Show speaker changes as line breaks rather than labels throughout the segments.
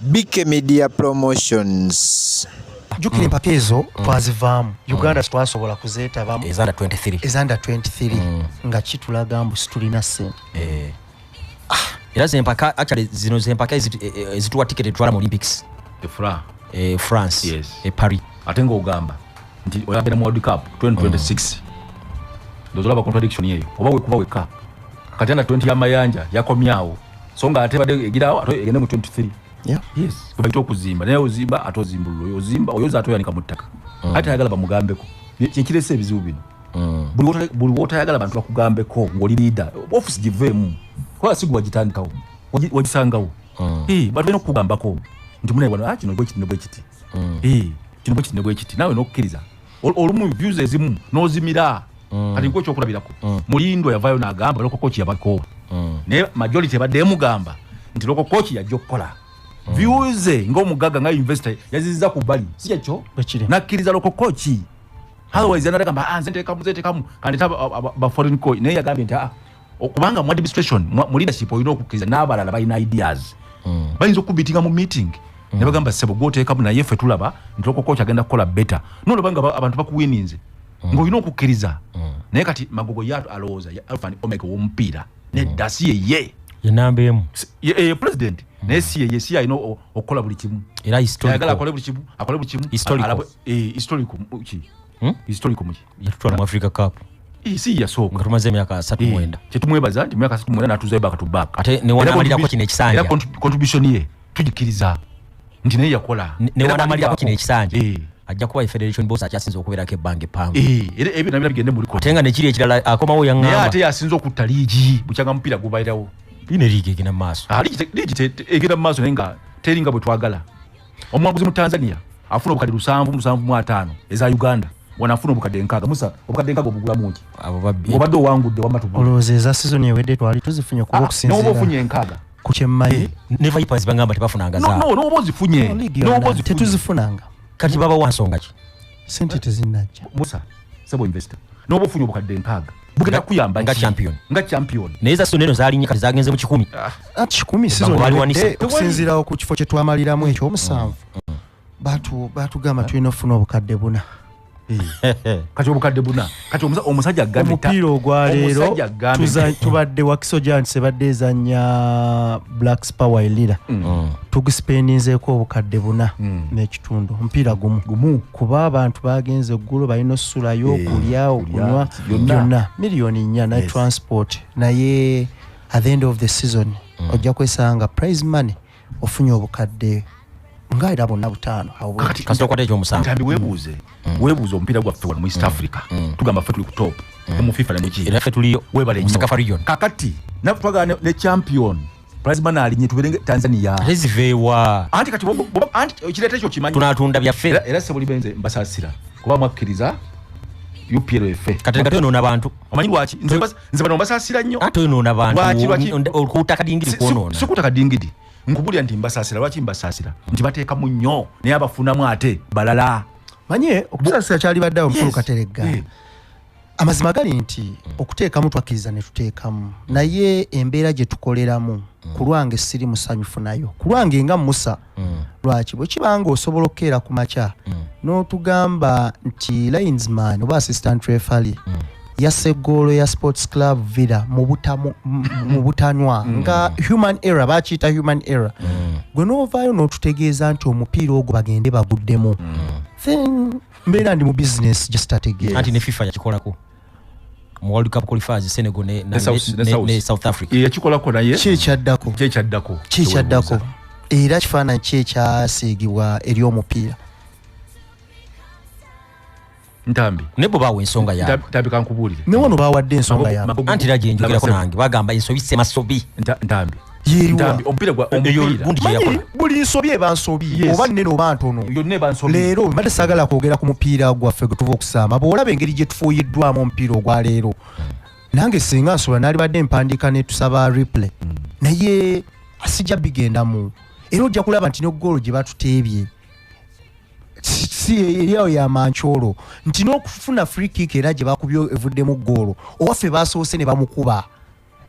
BK Media Promotions. Jukira
empaka ezo twazivaamu Uganda twasobola kuzeetabamu ezanda 23
ezanda 23 mm. nga kitulaga
mbu situlina ssente eh. ah,
era zempaka actually zino zempaka eh, eh, ezituwa ticket etwala mu Olympics efra e France yes. e
Paris ate
ng'ogamba
nti oyagenda mu World Cup 2026 mm. ndozolaba contradiction eyo oba wekuba wekka kati ana 20 ya mayanja yakomyawo so nga ate bade egirawo ate egende mu 23 yeah. yes
kubaita
okuzimba naye ozimba ate ozimbulula oyo ozimba oyo oza ate oyanika mu ttaka mm. ate ayagala bamugambeko kyekiresa ebizibu bino mm. buli wotayagala bantu bakugambeko ngaoli liida ofisi giveemu kubanga sigwe wagitandikawo wagisangawo mm. eh, bantu balina okukugambako nti munaye wano ah, kino bwekiti ne bwekiti mm. eh, kino bwekiti ne bwekiti nawe nokukkiriza olumu views ezimu nozimira mm. kati nkwe kyokulabirako mm. mulindo yavayo nagamba loko kochi yabakoowa mm. naye majority ebadde emugamba nti loko kochi yajja okukola mm. views ngaomugaga nga investor yaziziza ku bali si kyekyo nakkiriza loko kochi otherwise anatagamba ah, nze ntekamu nze ntekamu kandita ba foreign coach naye yagambye nti ah, okubanga mu administration mu leadership olina okukkiriza n'abalala balina ideas mm. bayinza okubitinga mu meeting mm. ne bagamba ssebo gwoteekamu naye ffe tulaba nti lokokoch agenda kukola beta nolaba nga abantu bakuwininze mm. ng'olina okukkiriza mm. naye kati magogo ya alowooza ya alfa ni omega w'omupiira nedda mm. si yeye enamba emu
eh, president mm.
naye si yeye si alina okukola buli kimu era historical akole
buli kimu
akole buli kimu historical eh, historical ki hmm? historical muki yatutwala mu africa cup
si yasooka
nga tumaze emyaka asatu
mwenda kyetumwebaza nti myaka
asatu mwenda natuzayo back to back ate newanamalirako kino
ekisanja era contribution
ye tugikiriza nti naye yakola newanamalirako kino
ekisanja ajja kuba federation boss akyasinza okubeerako ebbanga eppanvu era ebyo nabira bigende
muli ate nga nekiri ekirala akomawo
yaŋamba ate yasinza okutta
liigi bukyanga mupiira gubairawo ine liigi egenda
mu maaso ah, liigi
egenda mu maaso naye nga teringa bwe twagala omuwanguzi mu tanzania afuna obukadde lusanvu musanvu mu ataano eza uganda wanafuna obukadde nkaaga musa obukadde nkaaga obugulamu ki abo babbi obadde owangudde
wamma tugula
olowooza eza sizoni ewedde
twali tuzifunye okuba ah, okusinziira n'oba ofunye enkaaga
ku kyemmaye eh,
ne vipers bangamba
tebafunanga zaa n'oba ozifunye
n'oba ozifunye tetuzifunanga
kati baba
wansonga ki sente tezinajja
musa sebo
investor noba ofunye obukadde nkaaga bugenda kuyamba nga champion nga
champion naye za soneno zalinye
kati zagenze
mu kikumi ah, ah, kikumi
sizokusinzirawo ku kifo kyetwamaliramu ekyo omusanvu mm, mm. batugamba tulina ofuna obukadde buna eh.
kati obukadde buna kati omusajja omupiira ogwaleero
tubadde wakiso giants ebadde ezanya blacks power elira mm. mm. tugisipendinzeeko obukadde buna mm. n'ekitundu omupiira gumu kuba abantu bagenze eggulu balina osulayo eh, okulya okunywa byonna miliyoni nnya ne transport naye at the end of the season ojja kwesanga prize money ofunye obukadde nga era bonna butaano kasita okwata
ekyomusangambi webuuze
mm. webuuze omupiira gwaffe wano mu east mm. africa mm. tugamba ffe tuli ku top mu fifa nemukierafe tuliyo webalesakafa
region
kakati
nafe
twagala ne champion plasmana alinye tuberenge tanzania rezivewa
anti kati
anti ekireta ekyo kimanyi tunatunda byaffe era
sebuli benze
mbasasira kuba mwakkiriza upl efe kati kati ono
nabantu amanyi lwaki
nze bano mbasasira nnyo ate onoona
bantuolkuuta kadingidi kwonoona sikuuta kadingidi
nkubulira nti mbasasira lwaki mbasasira nti bateekamu nnyo naye abafunamu ate balala manye
okusasira kyali badde awo mukulu kateregga eh. amazima gali nti okuteekamu twakkiriza ne tuteekamu naye embeera gye tukoleramu mm. ku lwange siri musanyufu nayo ku lwange nga musa mm. lwaki bwe kiba nga osobola okukeera ku makya mm. n'otugamba nti linesman oba assistant refali mm. yassa eggoolo ya sports club villa mu butanwa mm. nga human error bakiyita human error mm. gwe n'ovaayo n'otutegeeza nti omupiira ogwo bagende baguddemu mm. then mbeera ndi mu business just ategeera anti ne fifa yakikolako
mu World Cup qualifiers Senegal ne, ne, ne, ne, ne South Africa e, yakikolako naye
kyekyaddako kyekyaddako kyekyaddako
era kifaananyi ki ekyasiigibwa eri omupiira
ntambi ne bwe baawa ensonga
yaabwe ntambi kankubuulire ne
wano baawadde ensonga
yaabwe anti era gye njogerako
nange bagamba ensobi semasobi ntambi Ntambi,
omupiira gwa- Eyo omupiira.
gundi
gye Manyi yakola.
buli nsobi eba nsobi Yes. oba nnene oba ntono Yonna eba nsobi. leero mbadde saagala kwogera ku mupiira gwaffe gwe tuva okusaama bw'olaba engeri gye tufuuyiddwamu omupiira ogwa leero nange singa nsobola naalibadde mpandiika ne tusaba replay naye sijja bigendamu era ojja kulaba nti ne goolo gye batuteebye si- si eriawo ya mancoolo nti n'okufuna free kick era gye bakubye evuddemu goolo owaffe baasoose ne bamukuba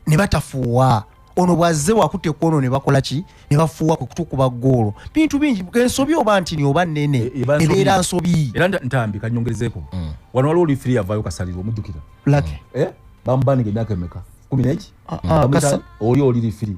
ne batafuuwa ono bwazze wakute kwono ne bakola ki ne bafuuwa kwe kutukuba ggoolo bintu bingi ensobi oba ntini oba nnene e, e, ebeera nsobi era ntambi
kanyongezeeko mm. wano waliwo olifiri yavaayo kasalirwa omujjukira lake eh?
bamubanira
emyaka emeka kumi neki ah, ah, oli oli lifiri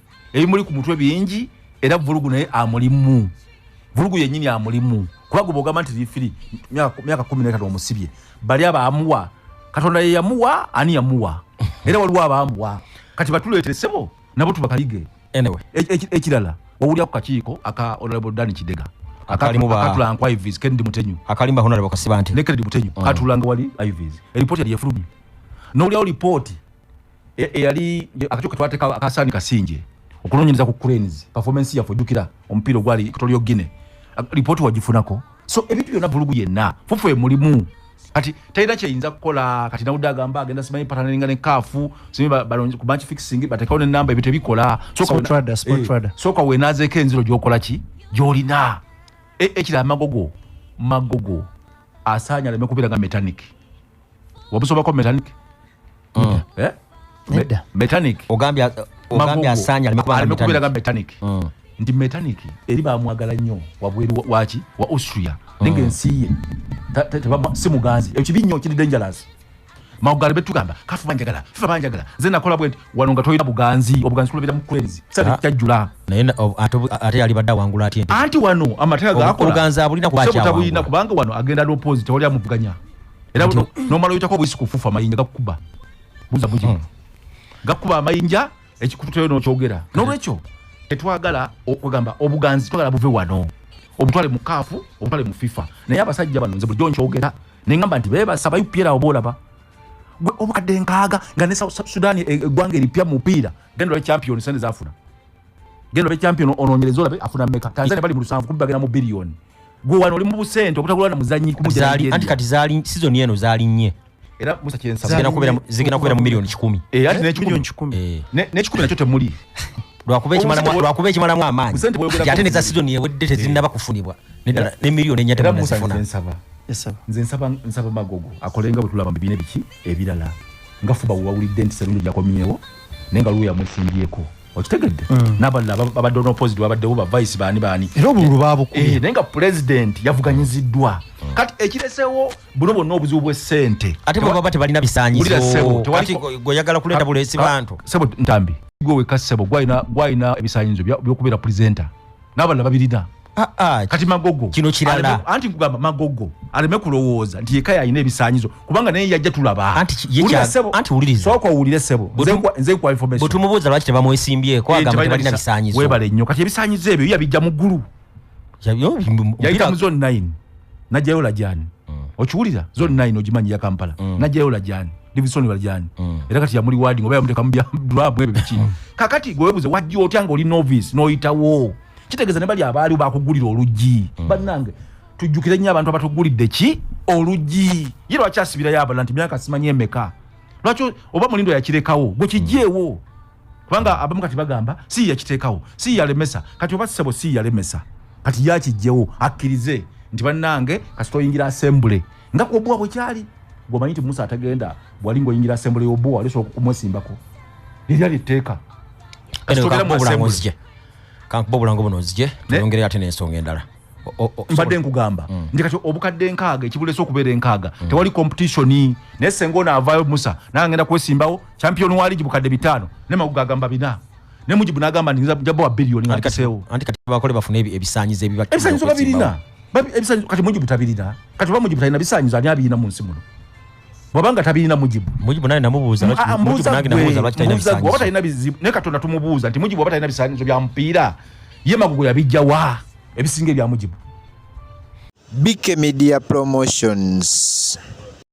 ebimuli ku mutwe bingi era vulugu naye amulimu vulugu yenyini amulimu kuba gwe bwogamba nti lifiri myaka kumi netano omusibye bali abaamuwa katonda ye yamuwa ani yamuwa era waliwo abaamuwa kati batuleetere sebo nabo tubakayige anyway. E, e,
ekirala
wawulira ku kakiiko aka honorable dani kidega akatula nku ivis kennedy mutenyu akalimba honorable kasiba
nti ne kennedy mutenyu mm. katulanga
wali ivis eripoti yali efulumye nowulirawo lipooti e, eyali akakyuka twateka akasani kasinje okunonyereza ku cranes performance yaffe ojjukira omupiira ogwali equatorial guine lipooti wagifunako so ebintu byonna vulugu yenna fufu emulimu kati talina kyeyinza kukola kati nawudde agamba agenda simanyi patanalinga ne kaafu ku banki fixing batekawo nenamba ebyo tebikola
sooka eh, wenazeeko
enziro gyokola ki gyolina e, ekira amagogo magogo asaanya aleme kubeera nga metaniki wabusobako mechanic mm. eh? Me, mechanic ogambye
ogambye asanya alime kubira ga mechanic
mm. ndi mechanic eri bamwagala nyo wabweru wachi wa austria mm. ninge nsiye tebama si muganzi ekibi nyo kiri dangerous maugari betu gamba kafu banjagala fifa banjagala zena kola bwenti wanonga toyina buganzi obuganzi kula bita mukwezi sabi ah. kyajula naye
ate yali badda wangula ati anti wano amatega
gakora obuganzi abulina kubacha
wangula kubanga wano
agenda lopozi tawali amuvuganya era buno nomala oyitako obuyisi kufufa amayinja gakukuba buza buji hmm. gakukuba amayinja ekikututeyo nokyogera nolwekyo tetwagala okugamba obuganzi twagala buve wano obutwale mukaafu obutwale mufifa naye abasajja bano nze bulijjo nkyogera nengamba nti bebasaba upirawo boolaba gwe obukadde nkaaga nga ne south sudan e, e, eggwanga eripya mupiira genda olabe champion sente zafuna genda olabe champion onoonyereza olabe afuna meka tanzania bali mu lusanvu kubbagenda mu biliyoni gwe wano oli mu busente obutagula na muzanyi kumujali anti kati zali season
yeno zali nye era musa kyensa
zigena kubera zigena kubera mu
milioni 10 eh ati
ne 10 eh ne 10 nachote muli lwakuba ekimala mwa
lwakuba ekimala mwa amani jate ne za season ye wedde te zinaba eh. kufunibwa ne dala ne milioni nyata na sifuna nsaba nze
nsaba nsaba magogo akolenga butula bambi bine biki ebirala ngafuba wawulidde nti serundi jakomyewo nenga luya mwesimbyeko okitegedde mm. nabalala babadde onoposit babaddewo bavayisi baani baani era obululu babukuye
eh, naye nga pulezidenti
yavuganyiziddwa mm. kati ekiresewo buno bwonna obuzibu bwesente ate bwebaba tebalina
bisanyizogoyagala kuleeta bulesi bantu sebo ntambi
gwe weka sebo gwalina ebisanyizo byokubeera pulezenta n'abalala babirina ah, ah, kati magogo kino kirala anti
nkugamba magogo
aleme kulowooza nti yeka yalina ebisanyizo kubanga naye yajja tulaba anti
wuliriza sooka owulire sebo
nze nkuwa information bwe tumubuuza lwaki
tebamwesimbyeko eh, agamba tebalina bisanyizo webale nnyo kati ebisanyizo
ebyo yabijja mu ggulu yayita mu zone 9 najjayo lajani mm. okiwulira zone nine ogimanyi ya kampala mm. najjayo lajani divisoni lajani mm. era kati yamuli wading oba yamuteka mudulabu ebyo biki mm. kakati gwewebuze wajja otya nga oli novice noyitawo kitegeeza ne bali abaaliwo bakugulira oluggi mm. bannange tujjukire nnyo abantu abatugulidde ki oluggi ye lwaki asibirayo abala nti myaka simanyi emeka lwaki oba mulindo yakirekawo gwe kijeewo mm. kubanga abamu kati bagamba si yakiteekawo si yalemesa kati oba sisebo si yalemesa kati yakijjewo akkirize nti bannange kasita oyingira asembule nga kuobuwa bwekyali gwemanyi nti musa atagenda bwali ngaoyingira asembule yobuwa wali osobola kumwesimbako lirya lyetteeka
kankuba obulango buno nzije tuyongere ate n'ensonga endala mbadde
nkugamba mm. nti kati obukadde enkaaga ekibulesa okubeera enkaaga mm. tewali competitioni naye senga ono avaayo musa naye agenda kwesimbawo champion wa ligi bukadde bitaano ne maguga agamba bina ne mujibu n'agamba nti nza jabawa biliyoni nga ntiseewo anti kati bakole bafune
ebisanyizo ebibaebisanyizo
babirina kati mujibu tabirina kati oba mujibu talina bisanyizo ani abirina mu nsi muno bwabanga tabirina mujibu mujibu naye namubuuza ah, ah,
mujibu nange namubuuza lwaki talina bisanyizo oba talina bizibu naye katonda
tumubuuza nti mujibu oba talina bisanyizo bya mupiira ye magugu yabijja wa ebisinga ebya mujibu
bike
media
promotions